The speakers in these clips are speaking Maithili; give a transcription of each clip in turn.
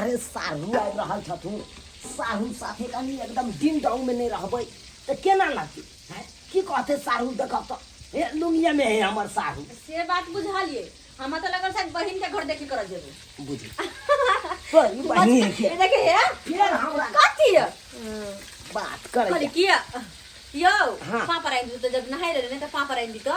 अरे साहू आबि रहल छथुन साहू साथे कनी एकदम दिन डाउन में नहीं रहबै तऽ केना लगतै हैं? की कहते साहू देखब तऽ हे लुंगिया में है हमर साहू से बात बुझलिए हमरा तो लगल शायद बहिन के घर देखे करल जेबे बुझी तो ई बहिनी है के ये देखे है फेर हमरा कथी है बात खाली करे किया यो हाँ। पापा राइन दी तो जब नहाई रहे ने तो पापा राइन दी तो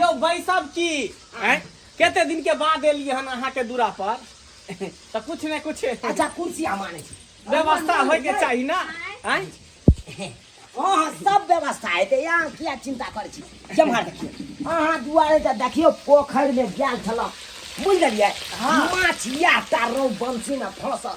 यौ बैसब की आँय? कते दिन के बाद एलियै हन अहाँ के दूरा पर तऽ कुछ ने कुछ अच्छा कुर्सी हम आनै छी व्यवस्था होय के चाही ना आँय? अहाँ सब व्यवस्था हेतै अहाँ किया चिन्ता करै छी जेम्हर देखियौ अहाँ दुआरे तऽ देखियौ पोखरिमे गेल छलहुँ बुझि गेलियै माछ इएह टा रौ बंशीमे फँसल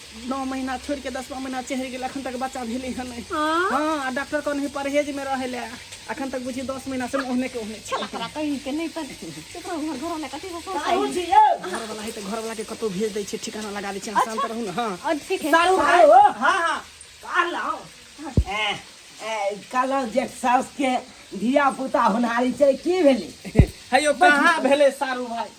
नौ महीना छोड़ के दसवा महीना चढ़ि गेल अखन तक बच्चा भेले है नहीं हाँ? हाँ आ डॉक्टर कहने परहेज में रहे ले अखन तक बुझी दस महीना से ओहने के ओहने छै। तोरा कहीं के नहीं पर केकरो घर घर वाला कथी हो साहू जी यौ घर वाला है तो घर वाला के कतौ भेज दै छै ठिकाना लगा दै छै अहाँ शांत रहू ने हाँ और ठीक है साहू भाई हो हाँ हाँ कहलहुँ ए, ए, कहलहुँ जे साउस के धिया पुता होनहारी छै की भेलै है यो कहाँ भेले सारू भाई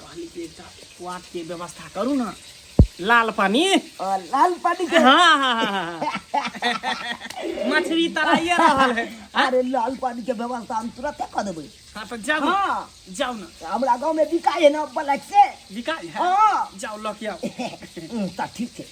कहली कि एकटा क्वाट के व्यवस्था करू ना लाल पानी और लाल पानी के हाँ हाँ हाँ हाँ मछली तराइए रहल है अरे लाल पानी के व्यवस्था हम तुरंत कर देबै हाँ तो जाओ ना हाँ जाओ ना हमरा गांव में बिकाय है ना ब्लैक से बिकाई है हाँ जाओ लऽ के आओ हम्म, तऽ ठीक छै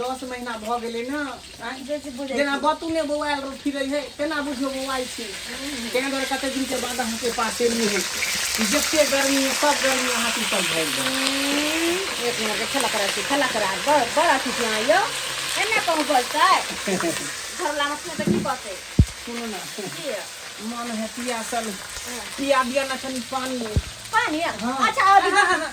दस महीना भऽ गेलै ने आँय? जे जे बुझै जेना बतू ने बौआएल रह फिरै है तेना बुझियो बौआइ छै ताहि दुआरे कतेक दिनके बाद अहाँके पास एलू है ई जते गर्मी है सब गर्मी अहाँ की सब भरि जाए एक नंबर के खेला करा छी खेला करा बड़ बड़ अथी छी अहाँ यौ एना कहूँ बजतै घरवला मछली तऽ की कहतै सुनू ने की यौ? मन है पियासल पिया दिया ना कनी पानी पानी यौ? हाँ। अच्छा अभी हाँ, हाँ, हाँ।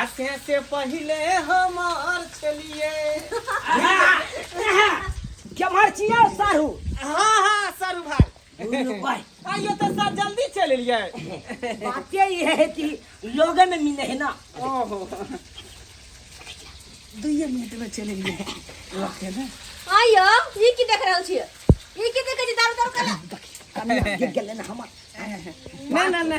आ से से पहिले हमार छलिए जमर चिया सारू हाँ हाँ सर भाई दुनू भाई आइयो तो सर जल्दी चले लिए बाते ये है कि लोगे में मिले है ना ओहो दुइये मिनट में चले लिए रखे ना आइयो ई की देख रहल छियै ई की देख जे दारू दारू कला कमी गिर गेल ना हमर ना ना ना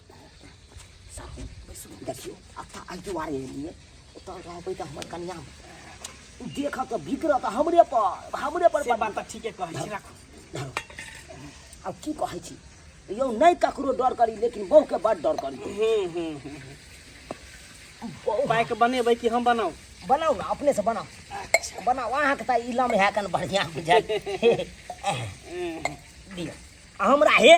देखियो अता आई दुआरे एलिए ओतऽ रहबै तऽ हमर कनिया देख तऽ बिगड़ तऽ हमरे पर हमरे पर से बात तऽ ठीके कहै छी राखू आब की कहै छी यौ नहि ककरो डर करी लेकिन बहू के बड़ डर करी बाइक बनेबै कि हम बनाऊ बनाऊ ना अपने से बनाऊ अच्छा। बनाऊ अहाँ के तऽ इलम है कन बढ़िया बुझाय दियो हमरा हे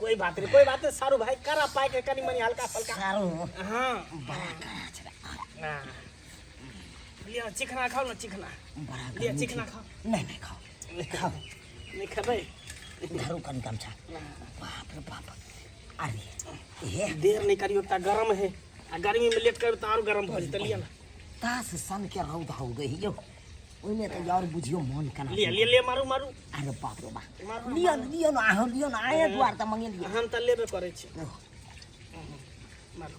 कोई बात नहीं कोई बात नहीं सारू भाई करा पाए के कनी मनी हल्का फल्का सारू हां बड़ा करा छे हां लिया चिकना खाओ ना चिकना बड़ा लिया चिकना खाओ नहीं नहीं खाओ खाओ नहीं खाबे धरू कन कम छा बाप रे बाप अरे देर नहीं करियो ता गरम है आ गर्मी में लेट कर तो और गरम भऽ जेतै लिअ ना तास सन के रौद हो गई यो ओइमे त यार बुझियो मन कना लिअ लिअ लिअ मारू मारू अरे बाप रे बाप मारू लियो न लियो न आहो लियो न आए द्वार त मंगे लियो हम तऽ लेबे करै छी ओह, मारू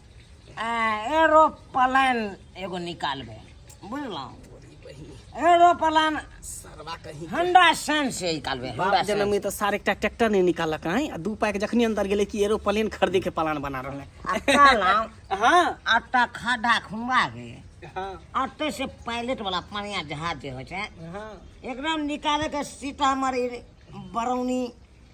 एरोप्लेन एगो निकालबे बुझलहुँ एरोप्लेन हंडा सैन से निकालबे हंडा जन्म में तो सारे एकटा ट्रैक्टर नहीं निकालक हैं आ दू पाई के जखनी अंदर गेले कि एरोप्लेन खरीदे के प्लान बना रहले हाँ आटा खड्डा खुमबा के आटे से पायलट वाला पानिया जहाज जे होइ छै एकदम निकाले के सीतामढ़ी बरौनी